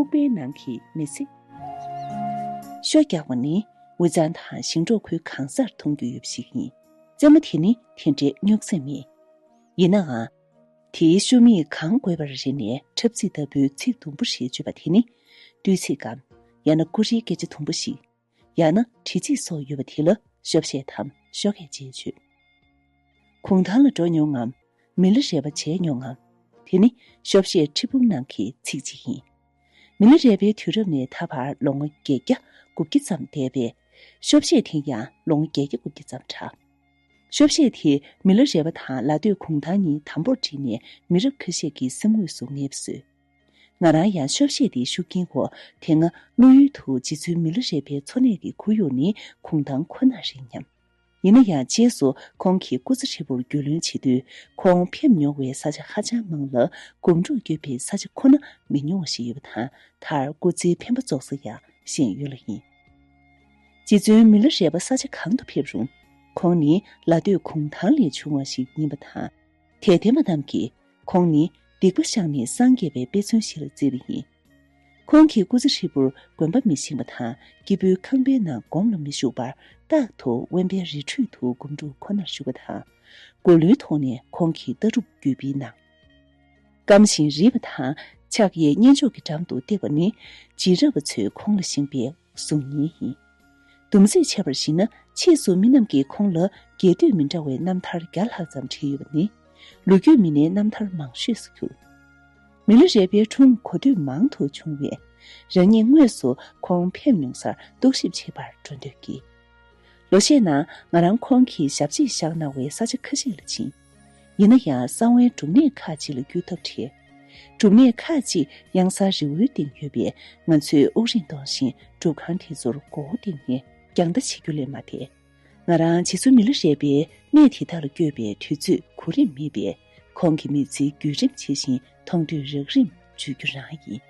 ཕུག་པའི་ནང་གི་མི་ཚེ། ཤོ་རྒྱག་པ་ནི་འུ་ཚང་དང་ཞིང་འབྲོག་ཁུལ་གང་སར་མཐོང་རྒྱུ་ཡོད་པ་ཞིག་ཡིན། རྩེད་མོ་དེ་ནི་དེ་འདྲའི་རྙོག་འཛིང་མེད། ཡིན་ནའང། དེའི་ཤོ་མིག་གང་དགོས་པར་རེ་ནས་འཁྲབ་ཚིག་ལྟ་བུའི་ཚིག་དུམ་བུ་ཞེས་བརྗོད་པ་དེ་ནི། བསྟོད་ཚིག་གམ། ཡང་ན་ཀུ་རེའི་སྐད་ཆ་དུམ་བུ་ཞིག། ཡང་ན་དྲི་ཚིག་སོགས་ཡོད་པ་དེ་ལ་ཤོ་བཤད་དམ་ཤོ་སྐད་ཅེས་བརྗོད། གུང་ཐང་ལ་འགྲོ་མྱོང་ངམ། མི་ལ་རས་པ་བྱས་མྱོང་ངམ། དེ་ནི་ཤོ་བཤད་ཁྲི་འབུམ་ནང་གི་ཚིག་ཅིག་ཡིན། མི་ལ་རས་པའི་དུས་རབས་ནས་ད་བར་ལོ་ངོ་བརྒྱད་བརྒྱ་དགུ་བརྒྱ་ཙམ་འདས་པས། ཤོ་བཤད་དེ་ཡང་ལོ་ངོ་བརྒྱད་བརྒྱ་དགུ་བརྒྱ་ཙམ་གྲགས། ཤོ་བཤད་དེས་མི་ལ་རས་པ་དང་ལ་སྟོད་གུང་ཐང་གཉིས་དམ་པོར་བསྒྲིལ་ནས་མི་རབས་ཁ་ཤས་ཀྱི་སེམས་ངོས་སུ་ངེས་པ་བཟོས། ང་རང་ཡང་ཤོག་ཤེས་ཏེ་ཤུགས་ཀྱིན་གོ་དེ་སྔ་བློ་ཡུལ་དུ་རྗེ་བཙུན་མི་ལོ་རས་པའི་འཚོ་གནས་ཀྱི་ཁོར་ཡུག་ནི་གུང་ཐང་ཁོ་ན་རེད་སྙམ། ཡིན་ན་ཡང་རྗེས་སུ་ཁོང་གི་སྐུ་ཚེ་ཧྲིལ་པོར་རྒྱུས་ལོན་བྱེད་དུས་ཁོང་ཕེབས་མྱོང་བའི་ས་ཆ་ཧ་ཅང་མང་ལ་སྒོམ་སྒྲུབ་སྐྱོད་པའི་ས་ཆ་ཁོ་ན་མི་ཉུང་བ་ཞིག་ཡོད་པ་དང་མཐར་སྐུ་ཚེའི་འཕེན་པ་རྫོགས་ས་ཡང་ཤེས་ཡོད་ལ་ཡིན། རྗེ་བཙུན་མི་ལོ་རས་པ་ས་ཆ་གང་དུ་ཕེབས་རུང་ཁོང་ནི་ལ་སྟོད་གུང་ཐང་ལས་བྱུང་བ་ཞིག་ཡིན་པ་དང། དད་ལྡན་པ་རྣམས་ཀྱིས་ཁོང་ནི་སྡིག་པ་བཤགས་ནས་སངས་རྒྱས་པའི་དཔེ་མཚོན་ཞིག་ལ་བརྩི་བ་ཡིན། ཁོང་གིས་སྐུ་ཚེ་ཧྲིལ་པོར་དགོན་པ་མི་ཤིང་པ་དང་སྐྱིད་པོའི་ཁང་པའི་ནང་སྒོམ་ལ་མི་བཞུགས་པར་རྟག་ཏུ་དབེན་པའི་རི་ཁྲོད་དུ་སྒོམ་སྒྲུབ་ཁོ་ནར་བཞུགས་པ་དང། མགོ་ལུས་ཐོག་ནས་ཁོང་གི་ལྟ་གྲུབ་བརྒྱུད་སྤེལ་གནང། སྐམ་ཞིང་རིད་པ་དང་ཕྱག་གཡས་བསྙེན་ཆོག་གི་འགྲམ་དུ་བཏེགས་པ་ནི་རྗེས་རབས་པ་ཚོས་ཁོང་ལ་ཤིང་བལ། གཟུགས་བརྙན་ཡིན། དུམ་ཚིགས་འཆད་པར་གཞིགས་ན་ཕྱིས་སུ་མི་རྣམས་ཀྱིས་ཁོང་ལ་རྒྱས་བསྡུས་མི་འདྲ་བའི་རྣམ་ཐར་བརྒྱ་ལྷག་ཙམ་བྲིས་ཡོད་པ་ནི། ལོ་རྒྱུས་མི་སྣའི་རྣམ་ཐར་མང་ཤོས་སུ་གྱུར། མི་ལོ་རས་པའི་འཁྲུངས་གོ་དུས་མང་དུ་བྱུང་བས། རང་ཉིད་དངོས་སུ་ཁོང་ཕེབས་མྱོང་སར་རྟོག་ཞིབ་བྱེད་པར་འགྲོ་འདོད་ཀྱིས། ལོ་ཤས་ནང་ང་རང་ཁོང་གི་ཞབས་རྗེས་བཞག་གནང་བའི་ས་ཆ་ཁ་ཤས་ལ་ཕྱིན། ཡིན་ན་ཡང་གསང་བའི་སྒྲུབ་གནས་ཁག་ཅིག་ལ་བརྒྱུད་ཐབས་བྲལ། སྒྲུབ་གནས་ཁག་ཅིག་གཡང་གཟར་རི་བོའི་སྟེང་ཡོད་པས་ང་ཚོས་དབུགས་རིང་གཏོང་བཞིན་སྒྲུབ་ཁང་དེ་ཚོར་མགོ་བོ་གཏིང་ནས་རྒྱང་ལྟ་བྱེད་རྒྱུ་ལས་མ་འདས། ང་རང་རྗེ་བཙུན་མི་ལ་རས་པའི་གནས་དེ་དག་ལ་བསྐྱོད་པའི་དུས་ཚོད་གོ་རིམ་མེད་པས་ཁོང་གི་མི་ཚེའི་བརྒྱུད་རིམ་ཇི་བཞིན་མཐོང་དུས་རགས་རིམ་བརྗོད་རྒྱུ་རང་ཡིན།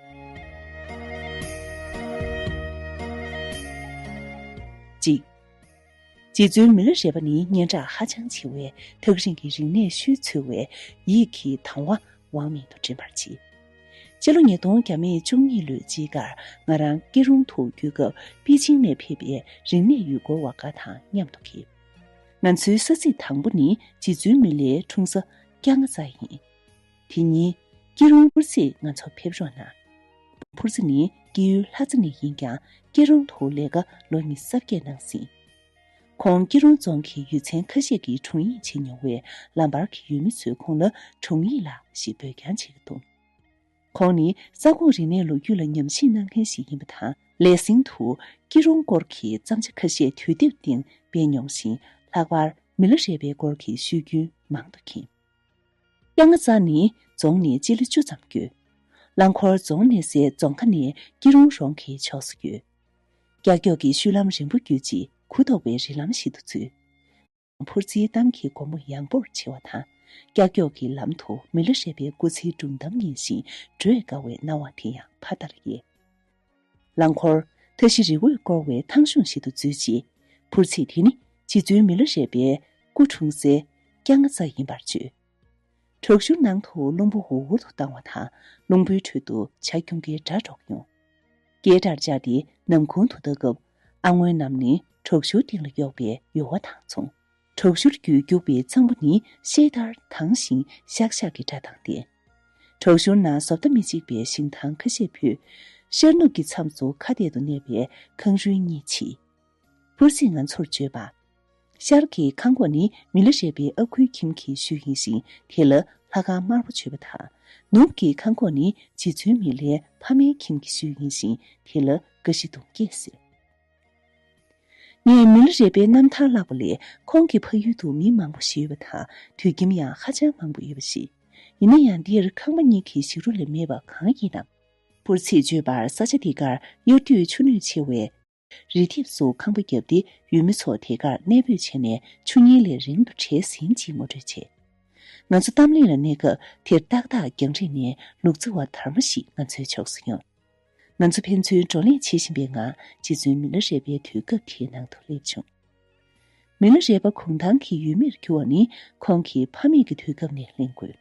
གཅིག། རྗེ་བཙུན་མི་ལ་རས་པ་ནི་སྙན་གྲགས་ཧ་ཅང་ཆེ་བས་ཐག་རིང་གི་རིག་གནས་ཤུལ་འཚོལ་བའི་ཡིད་ཀྱིས་དང་བ་བང་མེད་དུ་འགྲིམ་པར་བྱེད། སྤྱི་ལོ་ཉིས་སྟོང་གྱ་མེད་བཅུ་གཉིས་ལོའི་དཔྱིད་ཀར་ང་རང་སྐྱིད་རོང་དུ་བསྐྱོད་སྐབས་པེ་ཅིང་ནས་ཕེབས་པའི་རིག་གནས་ཡུལ་སྐོར་བ་འགའ་དང་མཉམ་དུ་ཕེབས། ང་ཚོའི་ས་ཚིགས་དང་པོ་ནི་རྗེ་བཙུན་མི་ལའི་འཁྲུངས་ས་སྐྱ་རྔ་རྩ་ཡིན། དེ་ཉིན་སྐྱིད་རོང་ཧུར་བསྲེས་ང་ཚོ་ཕེབས་རོགས་གནང། བུ་ཕུར་ཚེ་ནི་སྐྱིད་ཡུལ་ལྷ་རྩེ་ནས་ཡིན་ཀྱང་སྐྱིད་རོང་དུ་ལས་ཀ་ལོ་གཉིས་གསར་སྐྱེས་གནང་ཟིན། ཁོང་སྐྱིད་རོང་རྫོང་གི་ཡུལ་ཚན་ཁ་ཤས་ཀྱི་དྲུང་ཡིག་བྱེད་མྱོང་བས་ལམ་བར་གྱི་ཡུལ་མི་ཚོས་ཁོང་ལ་དྲུང་ཡིག་ལགས་ཞེས་འབོད་ཀྱང་བྱེད་ཀྱི་འདུག་ཁོང་ནི་ས་ཁོངས་རིག་གནས་ལོ་རྒྱུས་ལ་ཉམས་ཞིབ་གནང་མཁན་ཞིག་ཡིན་པ་དང་ལས་ཟིན་དུ་སྐྱིད་རོང་སྐོར་གྱི་བརྩམས་བྱ་ཁ་ཤས་དུས་དེབ་སྟེང་སྤེལ་མྱོང་ཞིང་ལྷག་པར་མི་ལ་རས་པའི་སྐོར་གྱི་ཤོད་རྒྱུན་མང་དུ་མཁྱེན། རྐྱང་ཚང་ནི་རྫོང་ནས་སྤྱི་ལེ་བཅུ་ཙམ་བརྒྱུད། རླངས་འཁོར་རྫོང་གནས་སའི་རྫོང་ཁ་ནས་སྐྱིད་རོང་རོང་གི་ཕྱོགས་སུ་བརྒྱུད། ཀྱག་ཀྱོག་གི་བཤུལ་ལམ་རིང་པོ་བརྒྱུད་ཅིང་གུ་དོག་པའི་རི་ལམ་ཞིག་ཏུ་ཚུད། འཕུར་རྩིའི་གཏམ་གྱི་སྒོ་མོ་ཡངས་པོར་ཕྱེ་བ་དང། ཀྱག་ཀྱོག་གི་ལམ་དུ་མི་ལ་རས་པའི་སྐུ་ཚེའི་སྒྲུང་གཏམ་སྙན་ཞིང་བགྲོད་དཀའ་བའི་སྣང་བ་དེ་ཡང་ཕ་མཐའ་ལ་ཡལ། རླངས་འཁོར། མཐའ་བཞི་རི་འོད་བསྐོར་བའི་ཐང་གཞུང་ཞིག་ཏུ་འཛུལ་རྗེས། འཕུར་ཚིག་དེ་ནི་རྗེ་བཙུན་མི་ལོ་རས་པའི་སྐུ་འཁྲུངས་སའི་རྐྱང་རྔ་རྩ་ཡིན་པར་བརྗོད། བྲག་ཞུར་ནང་དུ་རླུང་བུ་འུར་འུར་དུ་བཏང་བ་དང་རླུང་བུའི་ཁྲོད་དུ་བྱ་ཁྱུང་ཀའི་སྒྲ་སྒྲོག་ཡོང། ཀའི་སྒྲར་བཅག་སྟེ་ནམ་གུང་དུ་ལྟ་སྐབས། ཨ་སྔོན་རྣམས་ནི་བྲག་ཞུར་སྟེང་ལ་གཡོགས་པའི་ཡོལ་བ་དང་མཚུངས། དྲུག་ཞུར་རྒྱུད་རྒྱུག་པའི་ཚོམ་བུ་ནི་ཤེལ་ལྟར་དྭངས་ཤིང་ཤག་ཤག་གི་སྒྲ་དང་ལྡན། དྲུག་ཞུར་ན་བཟོ་ལྟ་མི་གཅིག་པའི་ཞིང་ཐང་ཁ་ཤས་ཕུད། ཤར་ནུབ་ཀྱི་མཚམས་སུ་ཁ་གཏད་དུ་གནས་པའི་ཁང་རུལ་གཉིས་མཆིས། ཕུར་ཚེས་ང་ཚོར་བརྗོད་པ། ཤར་གྱི་ཁང་གོག་ནི་མི་ལ་རས་པའི་ཨ་ཁུའི་ཁྱིམ་གྱི་ཤུལ་ཡིན་ཞིང་དེ་ལ་ལྷ་ཁང་དམར་པོ་བྱོས་པ་དང། ནུབ་ཀྱི་ཁང་གོག་ནི་རྗེ་བཙུན་མི་ལའི་ཕ་མའི་ཁྱིམ་གྱི་ཤུལ་ཡིན་ཞིང་དེ་ལ་ཀ་ཤི་དུང་སྐྱེས་ཟེར། ངས་མི་ལོ་རེ་པའི་རྣམ་ཐར་བཀླགས་པ་ལས་ཁོང་གི་ཕ་ཡུལ་དུ་མི་མང་པོ་ཞིག་ཡོད་པ་དང་དུད་ཁྱིམ་ཡང་ཧ་ཅང་མང་པོ་ཡོད་པ་ཞིག་ཡིན་ན་ཡང་འདིར་ཁང་པ་གཉིས་ཀྱི་ཞིག་རུ་ལས་མེད་པ་གང་ཡིན་ནམ། པུར་ཚིགས་བརྗོད་པར་ས་ཆ་དེ་གར་གཡུར་དུས་ཆུ་སྣོད་ཆེ་བས། རི་ལྡེབས་སུ་ཁང་པ་བརྒྱབ་སྟེ་ཡུལ་མི་ཚོ་དེ་གར་གནས་སྤོས་བྱས་ནས་ཆུ་གཉིས་ལས་རིང་དུ་བྲལ་ཟིན་ཅེས་ངོ་སྤྲོད་བྱས། ང་ཚོ་གཏམ་གླེང་ལ་གནས་སྐབས་དེར་ཏག་ཏག་རྒྱང་རིང་ནས་ལུག་རྫི་བ་དར་མ་ཞིག་ང་ཚོའི་ཕྱོགས་སུ་ཡོང། ང་ཚོ་ཕན་ཚུན་བགྲོ་གླེང་བྱེད་བཞིན་པའི་ངང་རྗེ་བཙུན་མི་ལོ་རས་པའི་དུས་སྐབས་དེའི་ནང་དུ་སླེབས་བྱུང། མི་ལོ་རས་པ་གུང་ཐང་གི་ཡུལ་མིར་གྱུར་བ་ནི་ཁོང་གི་ཕ་མེས་ཀྱི་དུས་སྐབས་ནས་གླེང་དགོས།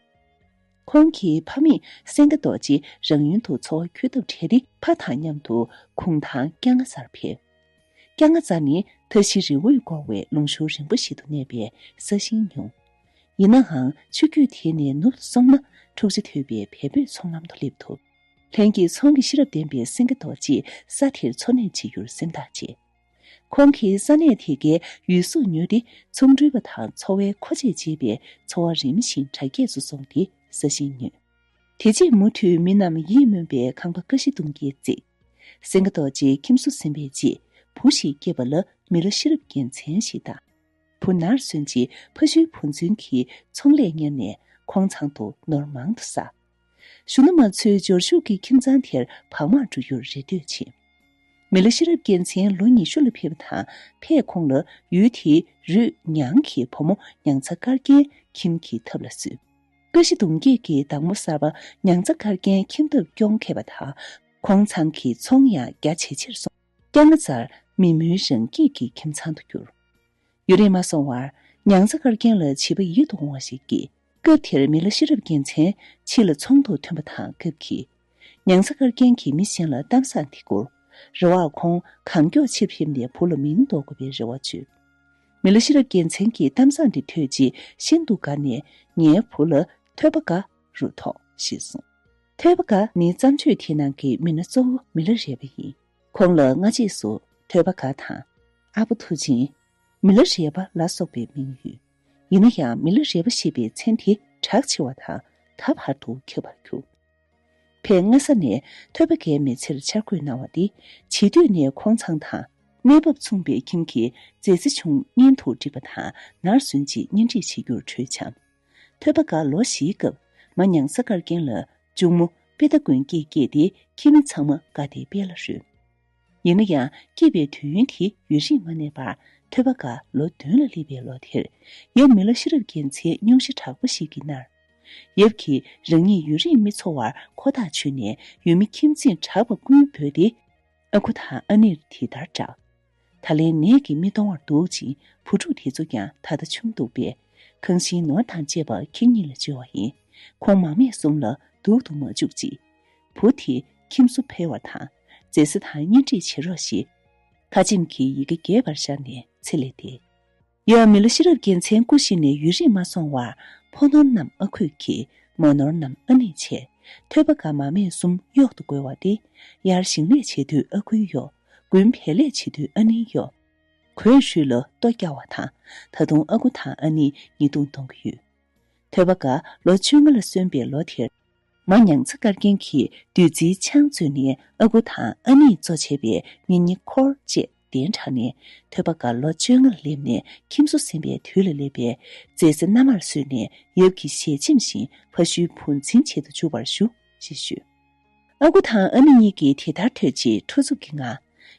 ཁོང་གི་ཕ་མེས་སེང་གེ་རྡོ་རྗེ་རང་ཡུལ་དུ་འཚོ་བ་འཁྱོལ་ཐབས་བྲལ་ཏེ་ཕ་དང་མཉམ་དུ་གུང་ཐང་སྐྱ་རྔ་ཙར་ཕེབས། སྐྱ་རྔ་ཙར་ནི་མཐའ་བཞི་རི་བོས་བསྐོར་བའི་ལུང་ཤུར་རིང་པོ་ཞིག་ཏུ་གནས་པའི་ས་ཞིང་ཉུང། ཡིན་ནའང་ཆུ་རྒྱུད་དེ་ནས་ནུབ་ཏུ་སོང་ན་འཁྲུག་ཆ་དོད་པའི་བལ་བོད་མཚོ་ལམ་དུ་སླེབས་ཐུབ། ལྷན་སྐྱེས་ཚོང་གི་ཤེས་རབ་ལྡན་པའི་སེང་གེ་རྡོ་རྗེས་ས་དེར་འཚོ་གནས་བྱེད་རྒྱུར་སེམས་ཐག་བཅད། ཁོང་གིས་ས་གནས་དེ་གའི་ཡུལ་སྲོལ་ཉོས་ཏེ་ཚོང་འགྲུལ་བ་དང་འཚོ་བའི་མཁོ་ཆས་སྤྱད་པས་འཚོ་བ་རིམ་བཞིན་གྲ་རྒྱས་སུ་སོང་སྟེ་ས་ཞིང་ཉོས། དེ་རྗེས་མུ་མཐུད་མི་རྣམས་ཡིད་སྨོན་པའི་ཁང་པ་ཀ་བཞི་སྟོང་བརྒྱད་བརྩིགས། སེང་གེ་རྡོ་རྗེའི་ཁྱིམ་སོ་ཟིན་པའི་རྗེས་བུ་ཞིག་སྐྱེས་པ་ལ་མི་ལོ་ཤེས་རབ་རྒྱལ་མཚན་ཞེས་བཏགས། བུ་ནར་སོན་རྗེས་ཕ་ཤུལ་བུ་རྫུན་གྱིས་ཚོང་ལས་གཉེར་ནས་ཁོང་ཚང་དུ་ནོར་མང་དུ་བསགས། གཞོན་ནུ་མ་ཚོའི་འབྱོར་ཕྱུག་གི་ཁྱིམ་ཚང་དེར་བག་མར་འགྲོ་རྒྱུར་རེ་འདོད་ཆེ། མི་ལ་ཤེས་རབ་རྒྱལ་མཚན་ལོ་ཉི་ཤུ་ལ་ཕེབས་པ་དང་ཕས་ཁོང་ལ་ཡུལ་དེའི་རུས་ཉང་གི་བུ་མོ་ཉང་ཚ་དཀར་རྒྱན་ཁྱིམ་གྱི་ཐབ་ལ་བསུས། ཀ་བཞི་དུང་སྐྱེས་ཀྱི་བདག་མོ་གསར་པ་ཉང་ཚ་དཀར་རྒྱན་ཁྱིམ་ཐབ་སྐྱོང་མཁས་པ་དང་ཁོང་ཚང་གི་ཚོང་ཡང་རྒྱ་ཇེ་ཆེར་སོང། སྐྱ་རྔ་ཙར་མི་མོའི་རང་སྐྱིད་ཀྱི་ཁྱིམ་ཚང་དུ་གྱུར། ཡུན་རིང་མ་སོང་བར་ཉང་ཚ་དཀར་རྒྱན་ལ་བྱིས་པ་ཡིད་དུ་འོང་བ་ཞིག་སྐྱེས། སྐབས་དེར་མི་ལ་ཤེས་རབ་རྒྱལ་མཚན་མཆིས་ལ་ཚོང་དུ་ཐོན་པ་དང་སྐབས་ཀྱི། ཉང་ས་དཀར་རྒྱན་གྱིས་མི་གཞན་ལ་གཏམ་བཟང་དེ་བསྐུར། རེ་བར་ཁོང་གང་མགྱོགས་ཕྱིར་ཕེབས་ནས་བུ་ལ་མིང་འདོགས་དགོས་པའི་རེ་བ་བཅོལ། མི་ལ་ཤེས་རབ་རྒྱལ་མཚན་གྱིས་གཏམ་བཟང་དེ་ཐོས་རྗེས་ཤིན་ཏུ་དགའ་ནས་ངའི་བུ་ལ། ཐོས་པ་དགའ། རུ་ཐོགས། ཞེས་གསུངས། ཐོས་པ་དགའ་ནི་བརྩམས་ཆོས་དེའི་ནང་གི་མི་སྣ་གཙོ་བོ་མི་ལ་རས་པ་ཡིན། ཁོང་ལ་སྔ་རྗེས་སུ་ཐོས་པ་དགའ་དང། ཨ་ཕོ་མཐུ་ཆེན། མི་ལ་རས་པ་ལ་སོགས་པའི་མིང་ཡོད། ཡིན་ན་ཡང་མི་ལ་རས་པ་ཞེས་པའི་མཚན་དེ་གྲགས་ཆེ་བ་དང་ད་བར་དུ་འཁྱོལ་བར་གྱུར། ཕས་སྔ་ས་ནས་ཐོད་པ་འགས་མེད་ཕྱིར་འཆར་འགོད་གནང་བ་འདི་བྱིས་དུས་ནས་ཁོང་ཚང་དང། གནས་བབ་མཚུངས་པའི་ཁྱིམ་གྱི་མཛེས་རྩེ་ཆུང་གཉེན་དུ་འགྲིག་པ་དང་ནར་སོན་རྗེས་གཉེན་སྒྲིག་བྱེད་རྒྱུར་གྲོས་འཆམ། ཐོད་པ་འགས་ལོ་བཞིའི་སྐབས་མ་ཉང་ས་དཀར་རྒན་ལ་མཇུག་མོ་དཔེ་ལྟ་མགོན་སྐྱེས་སྐྱེས་ཏེ་ཁྱིམ་མི་ཚང་མ་དགའ་སྟེ་དཔལ་ལ་རོལ། ཡིན་ན་ཡང་སྐྱིད་པའི་དུས་ཡུན་དེ་ཡུན་རིང་མ་གནས་པར་ཐོས་པ་འགའ་ལོ་བདུན་ལ་སླེབས་པའི་ལོ་དེར། ཡབ་མི་ལ་ཤེས་རབ་རྒྱལ་མཚན་སྙུང་གཞི་དྲག་པོ་ཞིག་གིས་མནར། ཡབ་ཀྱིས་རང་ཉིད་ཡུན་རིང་མི་འཚོ་བར་ཁོ་ཐག་ཆོད་ནས་ཡུལ་མི་ཁྱིམ་ཚེས་གྲགས་པ་ཀུན་འབོད་དེ། ཨ་ཁུ་དང་ཨ་ནེར་དེ་ལྟར་བསྒྲགས། ད་ལན་ནད་ཀྱིས་མི་གཏོང་བར་འདུག་ཅིང་བུ་ཕྲུག་དེ་ཚོ་ཀྱང་ད་ལྟ་ཆུང་འདུག་པས། ཁང་ཤིང་ནོར་དང་བཅས་པ་ཁྱེད་གཉིས་ལ་བཅོལ་བ་ཡིན། ཁོང་མ་སྨད་གསུམ་ལ་སྡུག་ཏུ་མ་བཅུག་ཅིག། བུ་དེ་ཁྱིམ་སོ་འཕེལ་བ་དང། རྫས་བཟི་དང་གཉེན་སྒྲིག་བྱེད་རོགས་ཞེས། ཁ་ཆེམས་ཀྱི་ཡི་གེ་རྒྱས་པར་བཞག་ནས་ཚེ་ལས་འདས། ཡང་མི་ལོ་ཤེས་རབ་རྒྱལ་མཚན་སྐུ་གཤེགས་ནས་ཡུན་རིང་མ་སོང་བར་ཕོ་ནོར་རྣམས་ཨ་ཁུས་ཀྱིས་མོ་ནོར་རྣམས་ཨ་ནེས་བྱས། ཐོད་པ་འགའ་མ་མས་གསུམ་གཡོག་ཏུ་བགོ་བ་སྟེ། དབྱར་ཞིང་ལས་བྱེད་དུས་ཨ་ཁུས་གཡོག། དགུན་བལ་ལས་བྱེད་དུས་ཨ་ནེས་གཡོག། གོས་ཧྲུལ་ལོ་ཏོག་བསྐྱར་བ་དང། ད་དུང་ཨ་ཁུ་དང་ཨ་ནེས་ཉེས་རྡུང་གཏོང་གི་ཡོད། ཐོད་པ་འགའ་ལོ་བཅོ་ལྔ་ལ་སོན་པའི་ལོ་དེར། མ་ཉང་ཚ་དཀར་རྒྱན་གྱིས་བདུད་རྩིའི་ཆང་བཙོས་ནས་ཨ་ཁུ་དང་ཨ་ནེས་གཙོ་བྱས་པའི་ཉེ་ཉེ་འཁོར་བཅས་གདན་དྲངས་ནས་ཐོད་པ་འགའ་ལོ་བཅོ་ལྔར་སླེབས་ནས་ཁྱིམ་སོ་ཟིན་པའི་དུས་ལ་སླེབས་པས་རྫས་རྩི་སྣ་མར་བསྲོས་ནས་ཡབ་ཀྱི་ཞལ་ཆེམས་བཞིན་ཕ་ཤུལ་བུ་འཛིན་བྱེད་དུ་འཇུག་པར་ཞུ། ཞེས་ཞུས། ཨ་ཁུ་དང་ཨ་ནེ་གཉིས་ཀྱིས་དེ་ལྟར་ཐོས་རྗེས་ཁྲོ་འཚུབ་ཀྱི་ངང།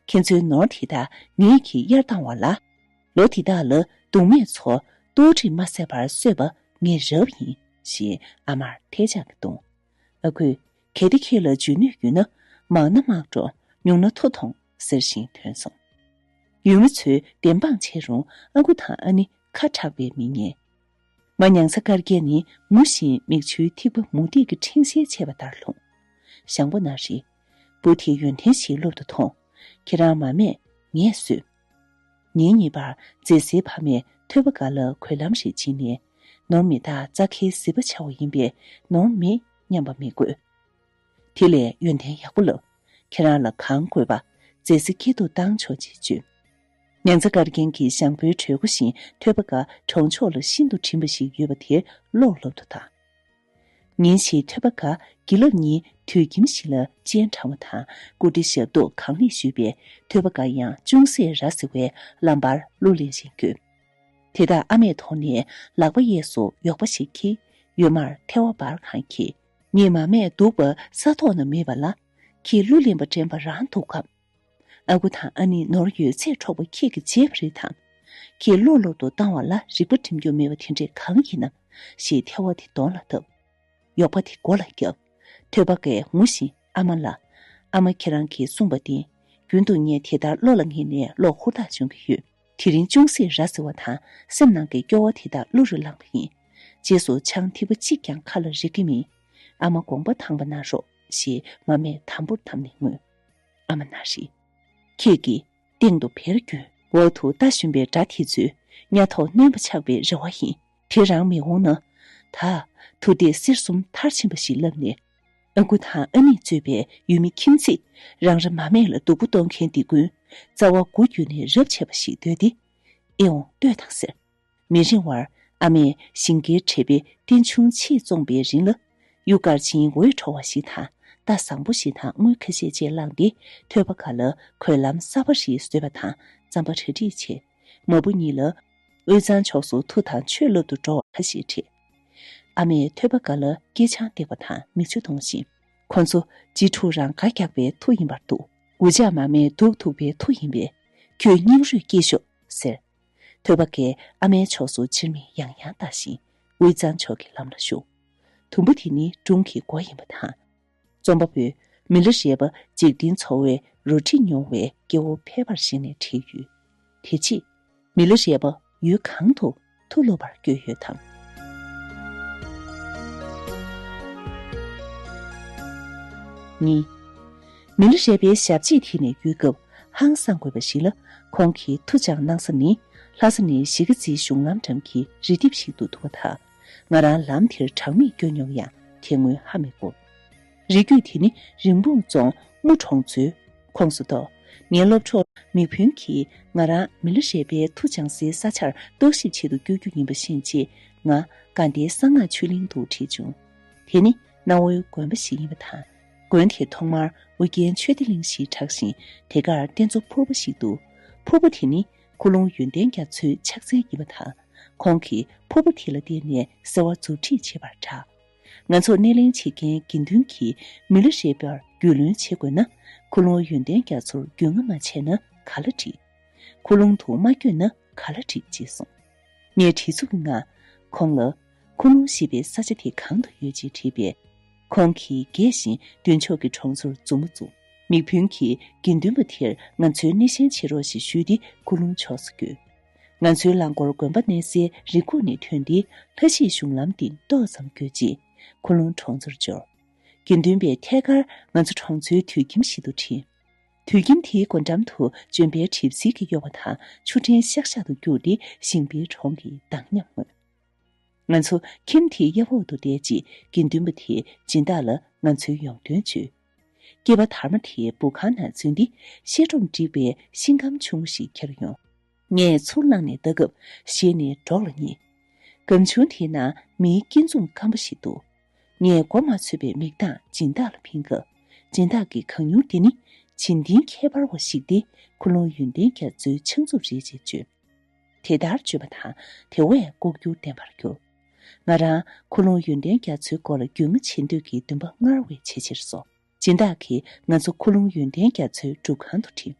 ཁྱེད་ཚོའི་ནོར་དེ་དག་ངེད་ཀྱིས་གཡར་བཏང་བ་ལ། ལོ་དེ་དག་ལ་སྡུག་སྨྲས་ཚོ་ལྟོ་གྲི་མ་བསད་པར་གསོད་པ་ངས་རབ་ཡིན། ཞེས་ཨ་མར་ཐལ་ལྕག་གིས་བརྡུང། ཨ་ཁུ། གལ་ཏེ་ཁྱེད་ལ་འཇོན་ནུས་ཡོད་ན། མང་ན་དམག་འགྲོ། ཉུང་ན་མཐོ་གཏོང། ཟེར་བཞིན་ཐོན་སོང། ཡུལ་མི་ཚོས་བདེན་དཔང་བྱས་རུང་ཨ་ཁུ་དང་ཨ་ནེ་ཁ་གྲགས་པའི་མི་ངན། མ་མྱང་ས་དཀར་རྒྱལ་ནི་མུ་བཞིན་མིག་ཆུའི་ཐིགས་པ་མུ་ཏིག་གི་འཕྲེང་ཞལ་ཕྱེས་པ་ལྟར་ལྷུང། ཞང་པོ་ན་རེ། བུ་དེ་ཡོན་ཏན་ཞིག་ལུབ་ཏུ་ཐོངས། ཁྱེད་རང་མ་སྨྲས། ངས་གསོད། ཉིན་གཉིས་པར་མཛེས་སེའི་ཕ་མས་ཐོད་པ་འགའ་ལ་གོས་ལྷམ་ཞིག་བྱིན་ནས། ནོར་མི་དག་རྩ་ཁའི་ཟིལ་པ་ཆགས་བ་ཡིན་པས་ནོར་མི་སྙམ་པ་མི་དགོས། དེ་ལས་ཡོན་ཏན་ཡག་པོ་ལབ། ཁྱེད་རང་ལ་གང་དགོས་པ་མཛེས་སེ་སྐྱིད་དུ་བཏང་ཆོག་ཅེས་བརྗོད། ནེ་ཙེ་ཀར་རྒན་གྱིས་ཞང་པོའི་གྲོད་ཁུ་བཞིན་ཐོད་པ་འགའ་གྲོང་ཆོག་ལ་ཤིན་ཏུ་བྲིན་པ་ཞིག་ཡོད་པ་དེ་ཀློག་ལབ་ཏུ་བཏང། ཉིན་ཞིག་ཐོད་པ་སྒ་དགེ་ལབ་གཉིས་དུད་ཁྱིམ་ཞིག་ལ་སྤྱན་དྲང་བ་དང་སྐུ་འདྲི་ཞབས་ཏོག་གང་ལེགས་ཞུས་པས་ཐོད་པ་སྒ་ཡང་ཅུང་ཟད་ར་ཟེར་བས་ལམ་བར་གླུ་ལེན་བཞིན་བསྐྱོད། དེ་དག་ཨ་མས་མཐོང་ནས་ལག་པ་གཡས་སུ་གཡོགས་པ་ཞིག་གིས་ཡོད་མར་ཐལ་བ་འབར་གང་གིས། ངས་མ་སྨྲས་འདུག་པ་ས་ཐོག་ན་མེད་པ་ལ། ཁྱིས་གླུ་ལེན་པ་དྲན་པ་རང་འདུག་གམ། ཨ་ཁུ་དང་ཨ་ནེ་ནོར་ཡོད་ཚད་འཕྲོག་པ་ཁྱེད་ཀྱི་བརྗེད་པ་རེད་དམ། ཁྱེད་ལོག་ལོག་ཏུ་བཏང་བ་ལ་རིག་པ་འགྲིམ་རྒྱུ་མེད་པ་དེ་འདྲས་གང་ཡིན་ནམ་ཞེས་ཐལ་བ་དེ་གདོང་ལ་བཏབ། གཡོག་པ་དེ་སྒོ་ལ་བརྒྱབ། ཐོད་པ་ཀས་ངུ་བཞིན་ཨ་མ་ལ། ཨ་མ་ཁྱེད་རང་གིས་གསུངས་པ་བདེན། རྒྱུན་དུ་ངས་དེ་ལྟར་བློ་ལ་ངེས་ནས་གློག་ཧུར་ཐག་སྦྱོང་གི་ཡོད། དེ་རིང་ཅུང་ཟད་ར་བཟི་བ་དང་སེམས་ནང་གི་སྐྱོ་བ་དེ་དག་གླུ་རུ་བླངས་པ་ཡིན། རྗེས་སུ་ཆང་ཐིགས་པ་གཅིག་ཀྱང་ཁ་ལ་རེག་གི་མིན། ཨ་མ་དགོངས་པ་དྭངས་པ་གནང་རོགས་ཞེས་མ་སྨྲས་དམ་པོར་བསྡམས་ནས་ངུས། ཨ་མ་ན་རེ། ཁྱེད་ཀྱིས་སྟེང་དུ་བེར་གྱོན། འོག་ཏུ་རྟ་ཞོན་པའི་སྒྲ་དེ་ཚོས་གཉའ་ཐོག་གནོན་པ་ཆགས་པའི་རེ་བ་ཡིན། དེ་རང་མི་འོང་ན། ད། དུ་དེ་གསེར་གསུམ་མཐར་ཕྱིན་པ་ཞིག་ལབ་ནས། ཨ་ཁུ་དང་ཨ་ནེས་གཙོས་པའི་ཡུལ་མི་ཁྱིམ་མཚེས་རང་རེ་མ་སྨད་ལ་སྡུག་པོ་གཏོང་མཁན་འདི་ཀུན། རྩ་བ་དགུ་བརྒྱུད་ནས་རབས་ཆད་པ་ཞིག་འདོད་དེ། ཨེ་འོང་ལྟོས་དང་ཟེར། མི་རིང་བར་ཨ་མས་ཞིང་ཁའི་གྲལ་པའི་སྟེང་ཆུང་ཆེས་བཙོངས་པའི་རིང་ལ། གཡུ་དཀར་ཆེན་འོད་འཕྲོ་བ་ཞིག་དང་རྟ་བཟང་པོ་ཞིག་དང་དངུལ་ཁ་ཤས་བཅས་བླངས་ཏེ་ཐོད་པ་ག་ལ་གོས་ལམ་གསར་པ་རེ་བཟོས་པ་དང་རྩམ་པ་ར་སྒྲིག་བྱས། མ་བུ་གཉིས་ལ། དབུས་གཙང་ཕྱོགས་སུ་ཐུག་དང་ཆོས་བསླབ་ཏུ་འགྲོ་བ་ཁ་ཤས་ཁྲིད། ཨ་མས་ཐོད་པ་ག་ལ་སྐྱེས་ཆང་བཏེགས་པ་དང་མིག་ཆུ་གཏོང་བཞིན། ཁོ་ཚོ་གཅིག་ཕྲུག་རང་དགར་རྒྱག་པའི་ཐུགས་ཡིན་པར་འདུག། འུ་ཅག་མ་མས་སྡུག་ཐུག་པའི་ཐུགས་ཡིན་པས། ཁྱོད་སྙིང་རུས་སྐྱེས་ཤོག་ཟེར། ཐོད་པ་འགས་ཨ་མའི་ཕྱོགས་སུ་ཕྱིར་མིག་ཡང་ཡང་བལྟ་བཞིན་དབུས་གཙང་ཕྱོགས་ཀྱི་ལམ་ལ་ཞུགས། དུམ་བུ་དེ་ནི་སྒྲུང་གི་མགོ་ཡིན་པ་དང། རྩོམ་པ་པོས་མི་ལོ་རེ་བ་འཇིག་རྟེན་འཚོ་བའི་རོ་བྲིས་མྱོང་བའི་སྐྱེ་བོ་ཕལ་པར་གཞིགས་ནས་བྲིས་ཡོད། དེ་རྗེས། མི་ལོ་རེ་བ་ཡུལ་གང་དུ་ཐུག་སློབ་པར་བསྐྱོད་ཡོད་དམ། གཉིས། མི་ལ་རས་པའི་ཞབས་རྗེས་དེད་ནས་ཡོད་སྐབས་ཧང་སངས་དགོས་པ་ཞིག་ལ་ཁོང་གིས་མཐུ་སྦྱངས་གནང་ས་ནི་ལྷ་ས་ནས་གཞིས་ཀ་རྩེའི་གཞུང་ལམ་འགྲམ་གྱི་རི་ལྡེབས་ཤིག་ཏུ་འདུག་པ་དང། ང་རང་ལམ་དེར་གྲངས་མེད་བསྐྱོད་མྱོང་ཡང་དེ་སྔོན་ཧ་མི་གོ། རི་རྒྱུད་དེ་ནི་རིན་སྤུངས་རྫོང་དམུ་གྲོང་ཚོའི་ཁོངས་སུ་གཏོགས། ངའི་སློབ་གྲོགས་མིག་བུན་གྱིས་ང་རང་མི་ལ་རས་པའི་མཐུ་སྦྱངས་སའི་ས་ཆར་རྟོག་ཞིབ་བྱེད་དུ་བསྐྱོད་རྒྱུ་ཡིན་པ་ཤེས་རྗེས་ང་དགའ་ཟླའི་གསང་སྔགས་ཆོས་གླིང་དུ་ཁྲིད་བྱུང། དེ་ནི་གནའ་བོའི་དགོན་པ་ཞིག་ཡིན་པ་དང། དགོན་དེ་ཐོག་མར་ཨོ་རྒྱན་ཆོས་སྡེ་གླིང་ཞེས་གྲགས་ཤིང་དེ་གར་རྟེན་གཙོ་ཕུར་བུ་ཞིག་འདུག་ཕུར་བུ་དེ་ནི་ཁུ་ལུང་ཡོན་ཏན་རྒྱ་མཚོའི་ཕྱག་མཚན་ཡིན་པ་དང། ཁོང་གིས་ཕུར་བུ་དེ་ལ་བརྟེན་ནས་གསོལ་བ་མཛུབ་ཁྲིད་བྱས་པར་གྲགས། ང་ཚོ་སྣེ་ལེན་བྱེད་མཁན་དགེ་འདུན་གྱིས་མི་ལོ་རེ་བར་རྒྱུས་ལོན་བྱེད་དགོས་ན། ཁུ་ལུང་ཡོན་ཏན་རྒྱ་མཚོར་རྒྱུས་མངའ་མ་བྱས་ན་ག་ལ་འགྲིག། ཁུ་ལུང་དུ་མ་བསྐྱོད་ན་ག་ལ་འགྲིག་ཅེས་གསུངས། ངས་བྲིས་ཚུགས་ཀྱི་ངང་ཁོང་ལ། ཁོ་མོ་ཤི་བའི་ས་ཆ་དེ་གང་དུ་ཡོད་ཅེས་དྲིས་པས། ཁོང་གིས་རྒས་བཞིན་མདུན་ཕྱོགས་ཀྱི་གྲོང་ཚོར་མཛུབ་མོ་བཙུགས། མིག་ཕུན་གྱིས་དགེ་འདུན་པ་དེར་ང་ཚོའི་སྣེ་ཤན་ཕྱེ་རོགས་ཞེས་ཞུས་ཏེ་ཀུ་ལུང་ཕྱོགས་སུ་བསྐྱོད། ང་ཚོའི་རླངས་འཁོར་དགོན་པ་གནས་སའི་རི་ཁུག་ནས་ཐོན་ཏེ་ལྷ་གཞིས་གཞུང་ལམ་སྟེང་ཏོག་ཙམ་བསྐྱོད་རྗེས། ཁུ་ལུང་གྲོང་ཚོར་འབྱོར། དགེ་འདུན་པའི་ཐད་ཀར་ང་ཚོ་གྲོང་ཚོའི་དུད་ཁྱིམ་ཞིག་ཏུ་འཁྲིད། དུད་ཁྱིམ་དེའི་སྒོ་འགྲམ་དུ་ལྗོན་པའི་གྲིབ་བསིལ་གྱི་གཡོ་བ་དང་ཆུ་ཕྲན་ཤག་ཤག་ཏུ་བསྐྱུར་ཏེ་ཞིང་པའི་གྲོང་གི་མདངས་ཉམས་མངོན། ང་ཚོ་ཁྱིམ་དེའི་གཡབ་འོག་ཏུ་བསྡད་ཅིག་དགེ་འདུན་པ་དེས་སྦྱིན་བདག་ལ་ང་ཚོའི་ཡོང་དོན་བརྗོད། སྐྱེས་པ་དར་མ་དེས་འབུ་ཁང་ནང་འཛུལ་ཏེ་ཤེལ་སྒྲོམ་བསྒྲིགས་པའི་ཤིང་སྒམ་ཆུང་ངུ་ཞིག་ཁྱེར་ཡོང། ངས་ཚུར་བླངས་ནས་ལྟ་སྐབས་ཤེལ་ནི་སྒྲོག་ལ་ཉེ། སྒམ་ཆུང་དེའི་ནང་མིའི་སྐྱིན་འཛུམ་སྐམ་པོ་ཞིག་འདུག་ངས་མགོ་མ་ཚོས་པའི་མིག་མདངས་སྦྱིན་བདག་ལ་འཕེན་སྐབས་སྦྱིན་བདག་གིས་གང་མྱུར་འདི་ནི་བྱིན་ཏིང་ཁྱད་པར་བ་ཞིག་སྟེ་ཁུ་ལུང་ཡོན་ཏན་རྒྱ་མཚོའི་ཕྱག་མཛུབ་རེད་ཅེས་བརྗོད། དེ་ལྟར་བརྗོད་པ་དང་དེ་བས་ལྐོག་གྱུར་བསྟན་པར་གྱུར། ང་རང་ཁུ་ལུང་ཡོན་ཏན་རྒྱ་མཚོའི་སྐོར་ལ་རྒྱུས་མངའ་བྱེད་འདོད་ཀྱི་འདུན་པ་སྔར་བས་ཆེ་ཆེར་སོང། སྦྱིན་བདག་གིས་ང་ཚོ་ཁུ་ལུང་ཡོན་ཏན་རྒྱ་མཚོའི་སྒྲུབ་ཁང་དུ་འཁྲིད།